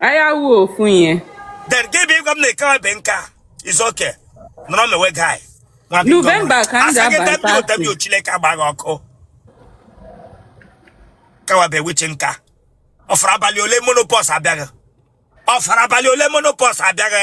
anyị awụ ofu ihe then gị bụ ịgwa m na ikewa be nke a is okay nọrọ mewe guy Nwa biko, November nwa. ka m Asa gị ga-aba dapịa ụta bi Chineke agba gị ọkụ kawabe witch nka ọ fara abalị ole menopause abịa gị ọ fara abalị ole menopause abịa gị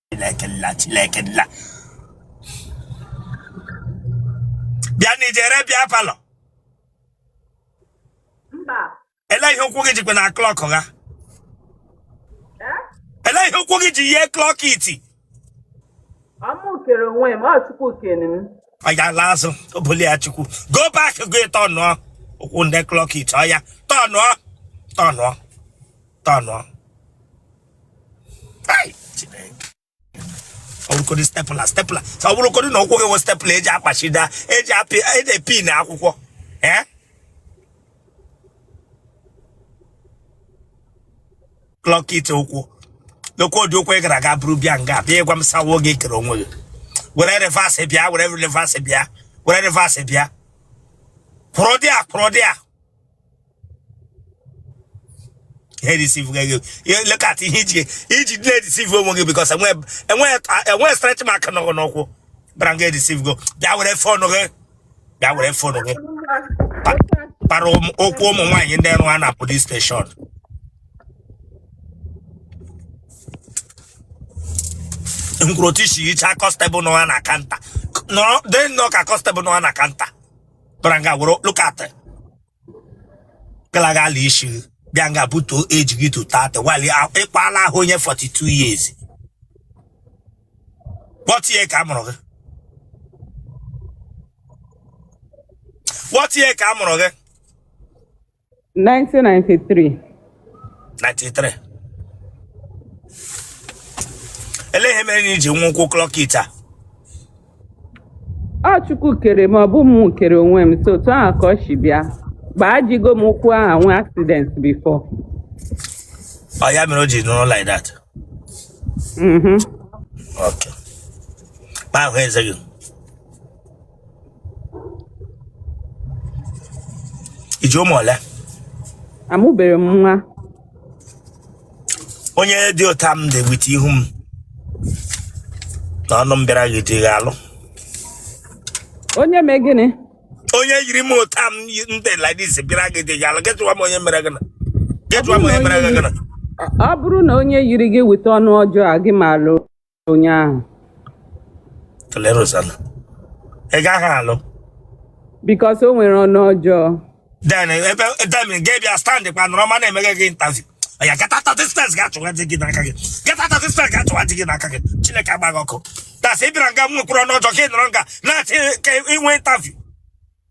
Chineke nna Chineke nna bịa na i jere beer parlour mba elee ihe ụkwụ gị jikwa na clock ha ee elee ihe ụkwụ gị ji yie clock it ọ mụ kere onwe m ọ Chukwu kere m oya laa azụ obuli ya chukwu go back go tọnụọ ụkwụ ndị clock it oya tọnụọ tọnụọ tọnụọ ọ bụrụkọdị stapler stapler ọ bụrụkọdị na ụkwụ gị wụ stapler eji akpachida eji apị eji epin akwụkwọ ee clock it ụkwụ n'okwu ọdị ụkwụ ị gara aga buru bịa nga bịa ịgwa m sawa oge ị kere onwe gị were reverse bịa were reverse bịa were reverse bịa kwụrụ there kwụrụ there ihe deceive gị ihe lekat ihe i ji i ji na-edeceive onwe gị because enweghị stretch mark nọ gị n'ụkwụ bara gị edeceive go bịa were phone gị bịa were phone gị para okwu ụmụ nwaanyị ndị na-arụ na police station ngwuru otu i si yicha constable nọ ha na counter nọrọ dị nnọọ ka constable nọ ha na counter bara nga were low cut galagala isi gị bịa nga butuo age gị to 30 while ị kpala ahụ onye 42 years what year ka a mụrụ gị what year ka a mụrụ gị 1993 93 elee ihe mere na i ji nwee ụkwụ clock it a Ọ Chukwu kere m, ọ bụ mụ kere onwe m. So otu ahụ ka ọ si bịa. Agbajigo m ụkwụ ahụ nwee accident before. ọ ya mere o ji nọrọ like that Mhm. okay ma ahụ eze gị i ji ụmụ ole Amụberọ m nwa. onye dị otu m dị with ihu m na ọnụ m bịara gị di ị ga-alụ onye mee gịnị onye yiri m otu m yi- m dị like this bịara gị di ị ga-alụ getụwa m onye mere gịnị getụwa m onye mere gịnị ọ bụrụ na onye yiri gị weta ọnụ ọjọọ agaghị m alụ onye ahụ tụlere ụzala ị gaghị alụ because o nwere ọnụ ọjọọ then ebe then gị bịa stand kwa nọrọ m na-eme gị interview ya get out of this place gaa chọwa di gị n'aka gị get out of this place gaa chọwa di gị n'aka gị chineke gbaa gị ọkụ that's ị bịara nga m nwekwuru ọnụ ọjọọ ka ị nọrọ nga na-achọ ka i nwee interview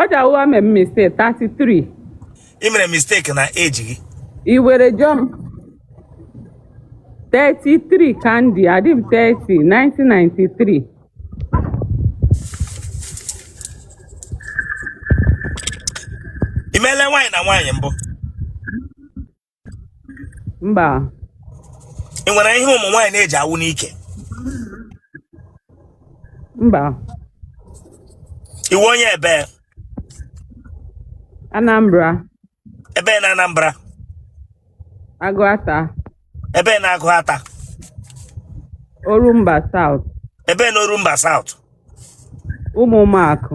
ọja ụwa mee mistake 33 ị mere mistake na age gị i were jụọ m 33 ka m dị adị m 30 1993 i meela nwaanyị na nwaanyị mbụ mba ị nwere ihe ụmụ nwaanyị na-eji awụ n'ike mba ị wụ onye ebee anambra ebee na anambra agụata ebee na agụata orumba south ebee na orumba south ụmụọmakụ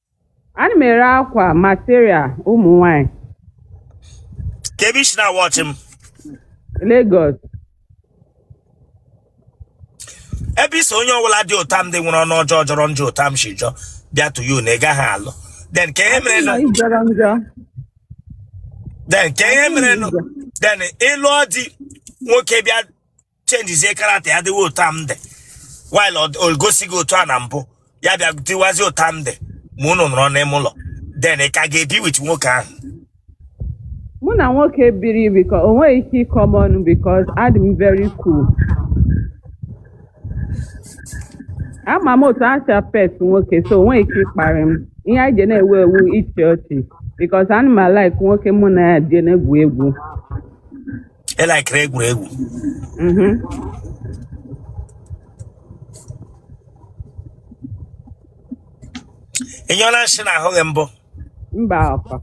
ana m ere akwa material ụmụ nwanyị kee ebe i si na-awọchị m Lagos ebe ị sị onye ọbụla dị otu a m dị nwere ọnụ ọjọọ jọrọ njọ otu a m si jọọ bịa to you na ị gaghị alụ then ka ihe mere na Ị jọrọ njọ then ka ihe mere na then ị lụọ di nwoke bịa chenjizie character ya dịwa otu a m dị while o gosi gị otu a na mbụ ya bịa dịwazi otu a m dị ma unu nọrọ n'ime ụlọ then ị ka ga-ebi with nwoke ahụ mụ na nwoke biri biko o nweghị ike ịkọ m ọnụ because adị m very cool ama m otu a si apet nwoke so o nweghị ike ịkparị m ihe anyị ji na-egwu egwu ịchị ọchị because ana m alaik nwoke mụ na ya dị na-egwu egwu ị laikiri egwuregwu Mhm. ị nyụọla nsị n'ahụ gị mbụ mba okay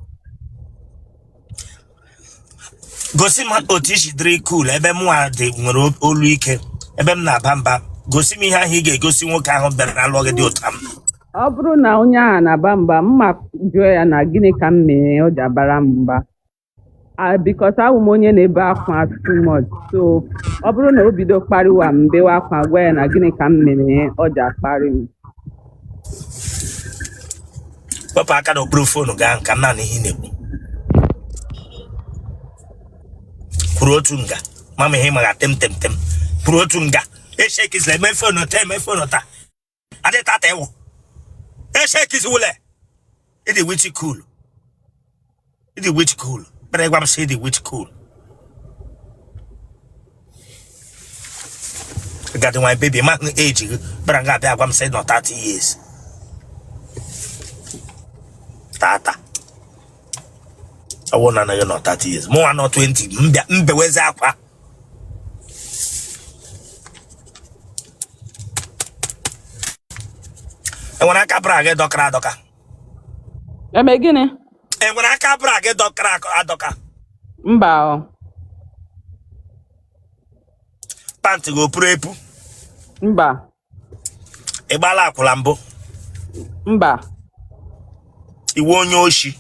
gosi m otu i si dịrị cool ebe mụ a dị nwere olu ike ebe m na-aba mba gosi m ihe ahụ ị ga-egosi nwoke ahụ bịara lụọ gị dị otu a m ọ bụrụ na onye ahụ na-aba mba mụ ajụọ ya na gịnị ka m mere o ji abara m mba Ah, because awụ m onye na-ebe akwa too much so ọ bụrụ na o bido kparịwa m bewe akwa gwa ya na gịnị ka m mere ya, o ji akparị m wepụ aka n'okpuru fonu gị ahụ ka m na-anụ ihe ị na-ekwu kwụrụ otu nga mama ihe maga tem tem tem kwụrụ otu nga eshekizla eme fonu taa eme fonu taa adị tata ewu eshekisiwule ịdị witi kulu ịdị witi kulu kpere gwa m sị ịdị witi kulu gadị nwa bebi ma hụ eji gị kpere nga abịa gwa m sị nọ 30 years tata ọ wụ na anaghị nọ 30 years mụnwa nọ 20 m bịa m bewezi akwa enwere aka bra gị dọkara adọka eme gịnị enwere aka bra gị dọkara adọka mba ọ pantị gị o puru epu mba ị gbala akwụla mbụ mba ị wụ onye oshi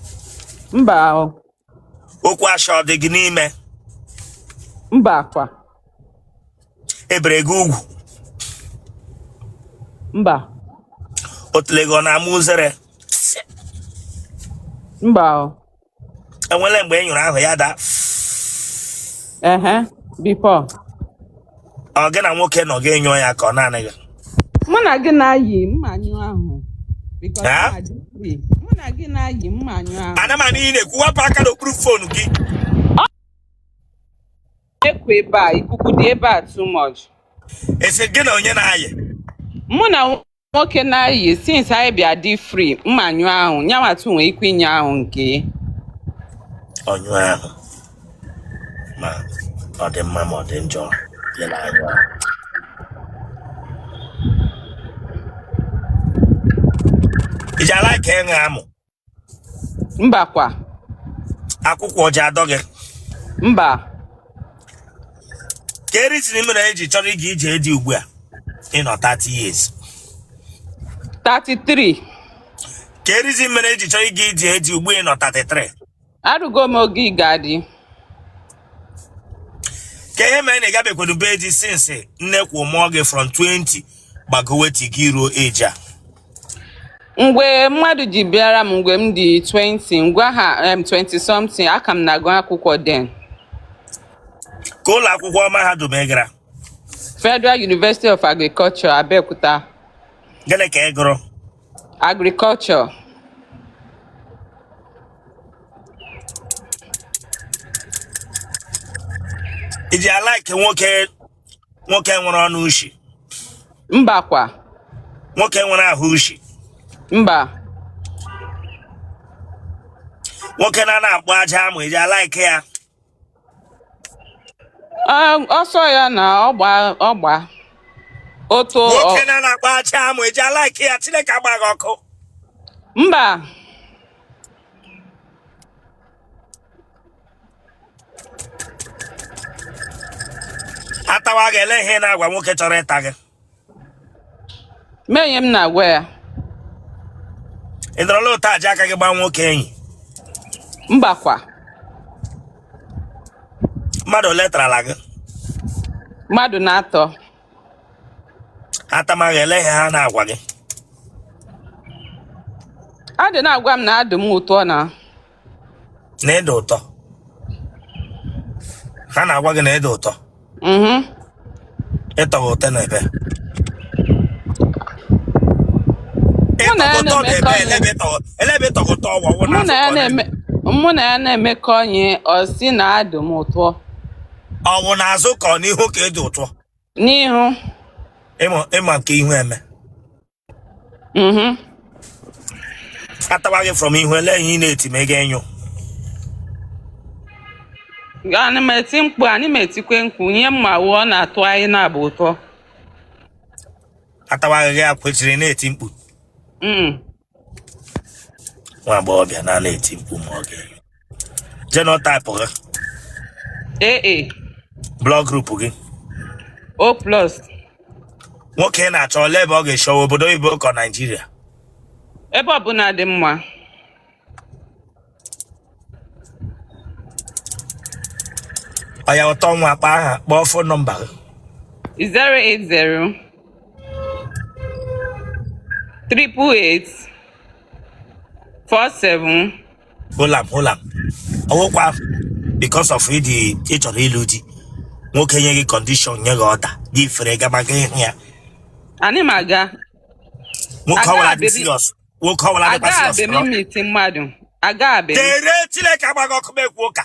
mba o, okwu asha ọ dị gị n'ime mba kwa e bere gị ugwu mba otule gị ọ na-ama uzere mba o, enwere mgbe ị nyụrụ ahụ ya daa ehe before ọ gị na nwoke nọ gị nyụọ ya ka ọ naanị gị mụ na gị na-ayị m ma-anyụ ahụ because Ha? mụ na gị free. mụ na gị na-ayị m ma-anyụ ahụ ana m anụ ị na-ekwu wepụ aka n'okpuru phone gị ekwu ebe a ikuku dị ebe a too much ị sị gị na onye na-ayị mụ na nwoke na-ayị since anyị bịa dị free m ma-anyụ ahụ yanwa too nwee ike ịnyụ ahụ nke ọnyụ ahụ ma ọ dị mma ma ọ dị njọ ya na-anyụ ahụ i ji alike ịṅụ amụ mba kwa akwụkwọ ọ ji adọ gị mba kee reason mere i ji chọrọ ịga ije di ugbu a ị nọ 30 years 33 kee reason mere i ji chọrọ ịga ije di ugbu a ị nọ 33 erugo m oge ịga di ka ihe mere na ị gabekwenu be di since nne kwa mụọ gị from 20 gbagowe till gị ruo age a mgbe mmadụ ji bịara m mgbe m dị 20 ngwa ha em, 20 something a ka m na-agụ akwụkwọ then ka ụlọ akwụkwọ mahadum ị gara Federal University of Agriculture Abeokuta gịnị ka ị gụrụ Agriculture. I ji alike nwoke nwoke nwere ọnụ ushi. Mba kwa. Nwoke nwere ahụ ushi. Mba. Nwoke na-ana akpụ ajị amụ i ji alike ya. Ah, ọsọ ya na ọgba ọgba otu nwoke ọ- na na-akpa achị amụ e ji alaiki ya chineke agba gị ọkụ mba a tawa gị ele ihe ị na-agwa nwoke chọrọ ịta gị mee ihe m na-agwa ya ị dọrọla ụta eji aka gị gbaa nwoke enyi mbakwa mmadụ ole tarala gị mmadụ n'atọ a tama gị ele ihe ha na-agwa gị a dị na-agwa m na adị m ụtọ na na ị dị ụtọ ha na-agwa gị na ị dị ụtọ mhm. ịtọghị ụtọ na ebe mụ na ya na-emekọ ihe ọ sị na adị m ụtọ ọ wụ n'azụ ka ọ n'ihu ka ị dị ụtọ n'ihu ị ma nke ihu eme mhm. a tawa gị from ihu ele ihe ị na-eti ma ị ga-enyo anyị ma eti mkpu anyị ma etikwe mkpu nye mma wuo ọ na-atọ anyị n'abụọ ụtọ a tawa gị akwechiri na-eti mkpu Mm. nwa agbọghọbịa na na-eti mkpu ma ọ ga-enyo genotype gị AA blood group gị O plus nwoke ị na-achọ ole ebe ọ ga-eshi ọ wụ obodo oyibo ka naijiria ebe ọbụla dị mma oya ụtọ nwa kpaa aha kpọọ fon nọmba gị 080 triple eight four seven hold on hold on ọ wụkwa because of ịdị ị chọrọ ịlụ di nwoke nye gị kọndishọn nye gị ọda gị fere gaba ga ịhụ ya Anyị ma aga. nwoke Ada ọwụla dị abịa- serious nwoke ọwụla dịkwa Aga serious abịa miiti mmadụ. Aga abịa. dere chineke agba gị ọkụ m ekwu ụka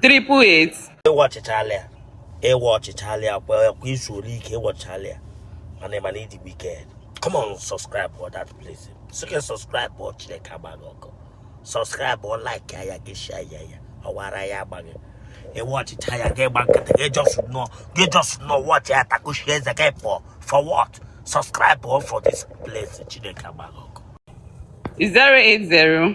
triple eight ị watchịchala ya ị watchịchala ya kwa kwa izu ole ike ị watchịchala ya mana ị ma na ị dị wicked come on subscribe for that place so gị subscribe bụ chineke agba gị ọkụ subscribe bụ like ya gị share ya ya ọwara ya agba gị ị watchịcha ya gị gba nkịtị gị just nọ gị just nọ watch ya takushi eze gị pụọ for what subscribe for this place chineke agba gị ọkụ zero eight zero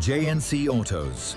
JNC Autos.